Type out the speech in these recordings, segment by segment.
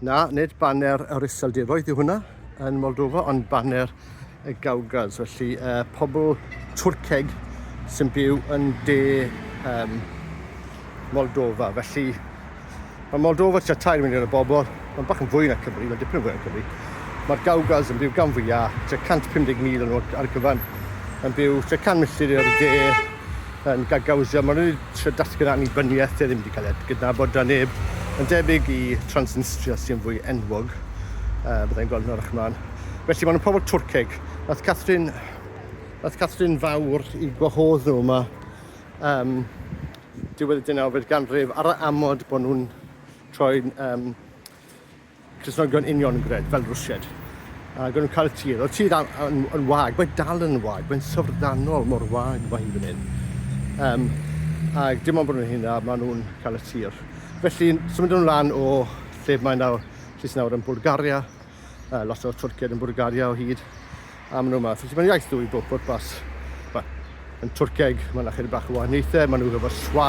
Na, nid baner yr Iseldiroedd yw hwnna yn Moldova, ond baner y Gawgas, felly uh, pobl Twrceg sy'n byw yn de um, Moldova. Felly, mae Moldova tua tair miliwn o bobl, mae'n bach yn fwy na Cymru, mae'n dipyn yn fwy na Cymru. Mae'r Gawgas yn byw gan fwyaf, tua 150,000 yn nhw ar gyfan, yn byw tua 100 milltir i'r de, yn gagauzio. Maen nhw wedi trio datgan annibyniaeth sydd ddim wedi cael ei gydnabod da neb, yn debyg i Transnistria sy'n fwy enwog, uh, byddai'n gweld yn arach mlaen. Felly maen nhw'n pobl Twrceg. Nath Catherine, nath Catherine fawr i gwahodd nhw yma um, diwedd y dynawfed ganrif ar y amod bod nhw'n troi'n um, Cristnogion uniongred, fel rwsied. Ac o'n nhw'n cael y tir. Oedd tir yn, yn wag, mae'n dal yn wag, mae'n syfrdanol mor wag mae hi fan hyn. Um, ac dim ond bod nhw'n hynna, maen nhw'n cael y tir. Felly, symud nhw'n lan o lle mae nawr, lle sy'n nawr yn Bulgaria, uh, lot o Twrciaid yn Bulgaria o hyd, am nhw yma. Felly mae'n iaith dwy bob pwrpas. Wel, yn Twrceg mae yna chydig bach o wahaniaethau, maen nhw hefo swa,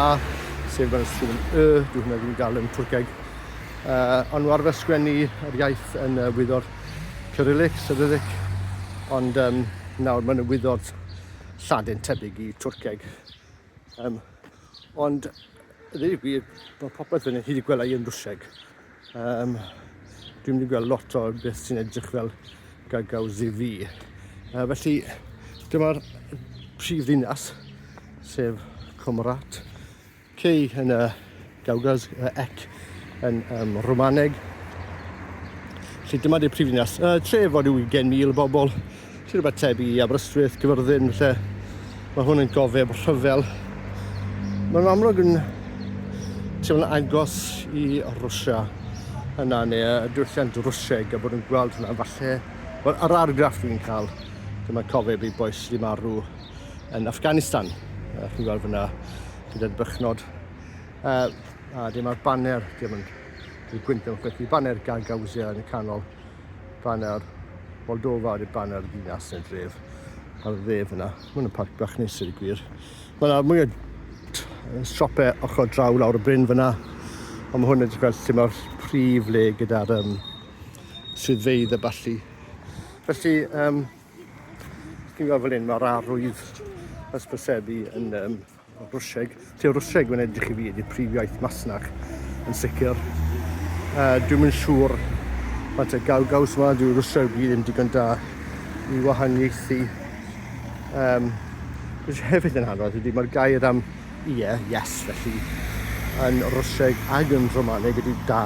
sef maen nhw'n sgwyn y, dwi hwnna ddim yn gael yn Twrceg. Uh, ond nhw arfer sgwennu yr iaith yn uh, wyddo'r Cyrillic, Cyrillic, ond um, nawr mae'n wyddo'r Lladin tebyg i Twrceg. Um, ond, ddweud y gwir, mae popeth fyny hyd i gwelai yn brwseg. Um, dwi'n mynd i gweld lot o beth sy'n edrych fel gagaw ZV. Uh, felly, dyma'r prif ddinas, sef Cymrat. Cei yn y Gauges y ec yn um, Romaneg. Felly dyma di'r prifddinas. Uh, tref o ryw 20,000 bobl, sy'n rhywbeth tebyg i Aberystwyth, Gyfyrddin, lle mae hwn yn gofeb rhyfel. Mae'n amlwg yn teimlo'n agos i Rwysia yna, neu y diwylliant Rwsieg, a bod yn gweld hwnna, falle, wel, yr argraff dwi'n cael, dyma cofeb i boes sydd wedi marw yn Afghanistan, chi'n gweld fyna, gyda'r bychnod. Uh, a dyma'r banner, dim yn y gwyndon chweth, y banner Gagauzia yn y canol, banner Moldova ar y banner ddinas yn y dref, ar y dde fyna. Mae yna parc bach nes i'r gwir. Mae yna mwy o siopau ochr draw lawr y bryn fyna, ond mae hwn yn edrych fel lle mae'r prif le gyda'r um, swyddfeydd y balli. Felly, um, chi'n gweld fel un, mae'r arwydd ysbrysebu yn um, Rwsieg. Tua Rwsieg mae'n edrych i fi ydy prif iaith Masnach yn sicr. Uh, dwi'm yn siŵr faint o gaw gaws yma, dyw Rwsieg fi ddim digon da i wahaniaethu. Um, Rwy'n hefyd yn hanfod ydy mae'r gair am ie, yeah, yes, felly yn Rwsieg ag yn Romaneg ydy da.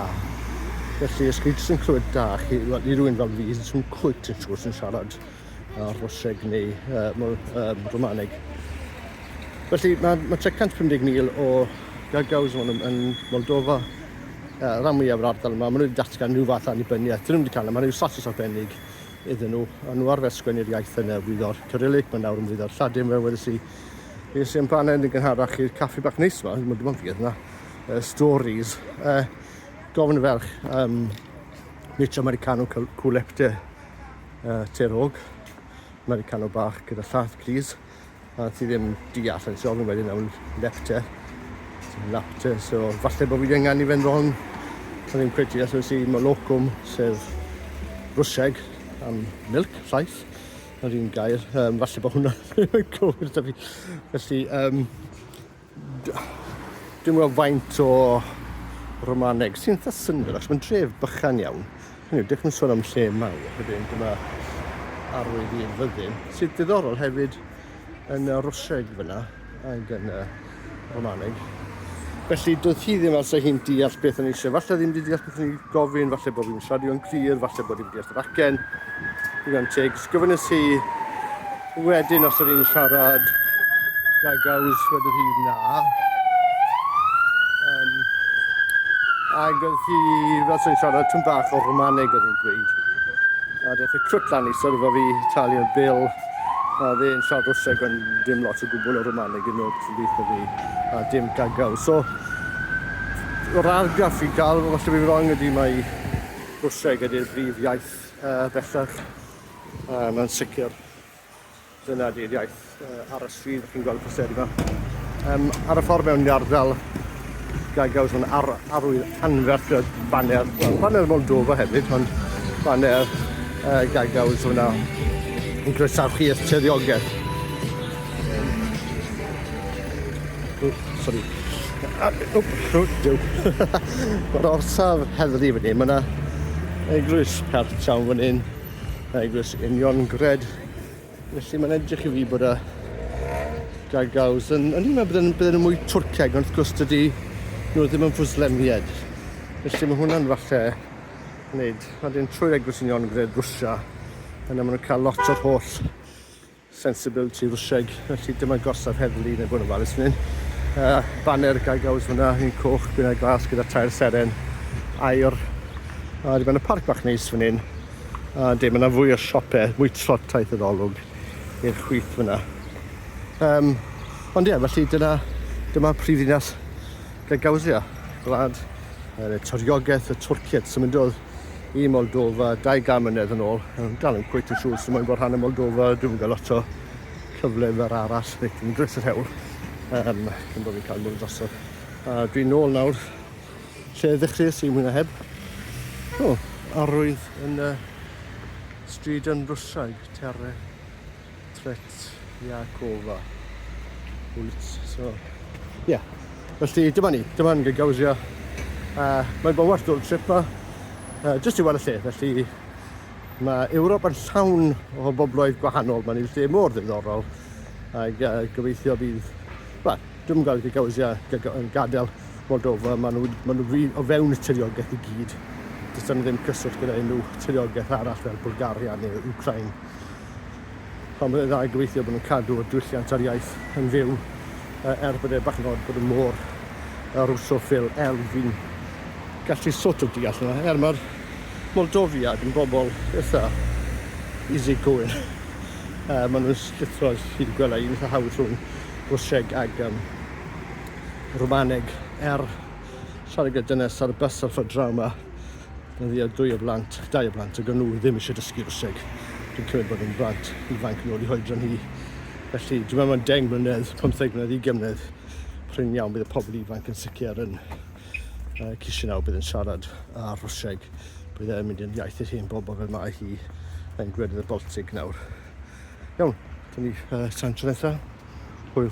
Felly, os chi jyst yn clywed da, chi, well, i rwy'n fel fi, jyst yn cwyt yn siŵr sy'n siarad a Rhoseg neu uh, mor, um, Romaneg. Felly mae, mae 350,000 o gagaws yn, yn Moldova, uh, rhan mwyaf yr ardal yma, maen nhw wedi datgan rhyw fath annibyniaeth, dyn nhw wedi cael yma, rhyw status arbennig iddyn nhw, a nhw arfer sgwennu'r iaith yn y wyddo'r Cyrillig, mae nawr yn wyddo'r Lladin, fe wedi si, fe wedi si'n paned yn gynharach i'r caffi bach neis yma, ddim yn gwybod fi yna, uh, stories, uh, gofyn y ferch, um, Mitch Americano Culepte, uh, terog, Americano bach gyda llath gris, a ti ddim deall yn siol yn wedyn awn lepte, lapte, so falle bod fi wedi ynganu fe'n ron, a ddim cweit deall os i molocwm, sef rwseg am milk, llaeth, yr un gair, um, falle bod hwnna yn cywir da fi. Felly, um, Dwi'n gweld faint o Romaneg sy'n eitha syndod, achos mae'n dref bychan iawn. Hynny yw, dych chi'n sôn am lle mawr, wedyn dyma arwydd i'r fyddin, sydd diddorol hefyd yn y Rwsieg fyna ac yn y Romaneg. Felly, doedd hi ddim alsa hi'n deall beth o'n eisiau. Falle ddim wedi deall beth o'n i'n gofyn, falle bod fi'n siarad o'n glir, falle bod i'n deall yr acen. Dwi'n teg, sgyfynnes hi Wedyn os yr un siarad da gaws wedodd hi na. Um, ac oedd hi fel sy'n siarad tyn bach o Romaneg oedd hi'n gweud. A deth y crwt lan i syrfa fi, talio'r bil, a dde yn siarad o seg ond dim lot o gwbl o Romaneg yn ôl sy'n beth o fi, a dim gagaw. So, o'r argraff fi'n cael, os ydw i'n wrong ydy mae Rwseg ydy'r brif iaith uh, bellach A mae'n sicr, dyna di'r iaith uh, ar y stryd, ych chi'n gweld y posteri yma. Um, ar y ffordd mewn i'r ardal, gael gaws o'n ar, arwydd anferth gyda baner, well, baner Moldova hefyd, ond baner uh, gael gaws o'na yn croesawu chi eich tiriogaeth. Sori. Mae'r orsaf heddlu fan hyn, mae yna eglwys Hertown fan hyn, eglwys Union Gred. Felly mae'n edrych i fi bod y gagaws yn... Ond i'n meddwl bod yn mwy Twrceg, ond wrth gwrs dydy nhw ddim yn fwslemied. Felly mae hwnna'n falle wneud... Wedyn trwy'r eglwys Union Gred Rwsia, yna maen nhw'n cael lot o'r holl Sensibility Rwsieg, felly dyma gorsaf heddlu neu bod yn falus fan hyn. Uh, baner gagaws fyna, un coch, gwynau glas gyda tair seren, air. A dyma yna parc bach neis fan hyn. A de, mae yna fwy o siopau, mwy trot taith yr olwg i'r chwith fyna. Um, ond ie, felly dyna, dyma prif ddinas Gagawsia, gwlad, y toriogaeth, y twrciet, sy'n mynd oedd i Moldova 20 mlynedd yn ôl. Yn dal yn cwyt yn siŵr sy'n mwyn bod rhan o Moldova, dwi'n mynd gael lot o cyfle fer arall, neu dwi'n dres yr hewl, um, cyn bod fi'n cael mwyn drosodd. A dwi'n nôl nawr lle ddechreuais i mwyn a heb. O, arwydd yn y stryd yn Rwsiaid, terre. Tretyakova ulica. So, ie. Yeah. Felly, dyma ni. Dyma'n Gagauzia. Uh, mae'n bod werth o'r trip ma. Uh, just i weld y lle. Felly, mae Ewrop yn llawn o bobloedd gwahanol. Mae'n un lle mor ddiddorol. Ac uh, gobeithio bydd... Wel, dwi'n gael Gagauzia yn gadael Moldova. Maen nhw, maen nhw o fewn y tiriogaeth i gyd. Does yna ddim cyswllt gyda unrhyw tiriogaeth arall fel Bulgaria neu Ukraine. pan bod e'n dda i gobeithio bod nhw'n cadw'r diwylliant a'r iaith yn fyw uh, er bod e bach yn od bod y môr a Russophil er fi'n gallu sort of deall yna er mae'r Moldofiad yn bobl eitha easy going uh, maen nhw'n llithro chi wedi gweld un eitha hawdd rhwng Rwsieg ag um, Rwmaneg er siarad gyda dynes ar y bus ar ffordd draw yma Mae fi a dwy o blant, dau o blant, ac o'n nhw ddim eisiau dysgu Rwseg. Dwi'n cymryd bod yn blant ifanc yn ôl i hoedran hi. Felly, dwi'n meddwl mae'n 10 mlynedd, 15 mlynedd, 20 mlynedd, prin iawn bydd y pobl ifanc yn sicr yn uh, cysio nawr bydd yn siarad ar Rwseg. Bydd e'n mynd yn iaith i'r hen bobl fel mae hi yn gwledydd y Baltig nawr. Iawn, dyn ni uh, sa'n tro nesaf. Hwyl.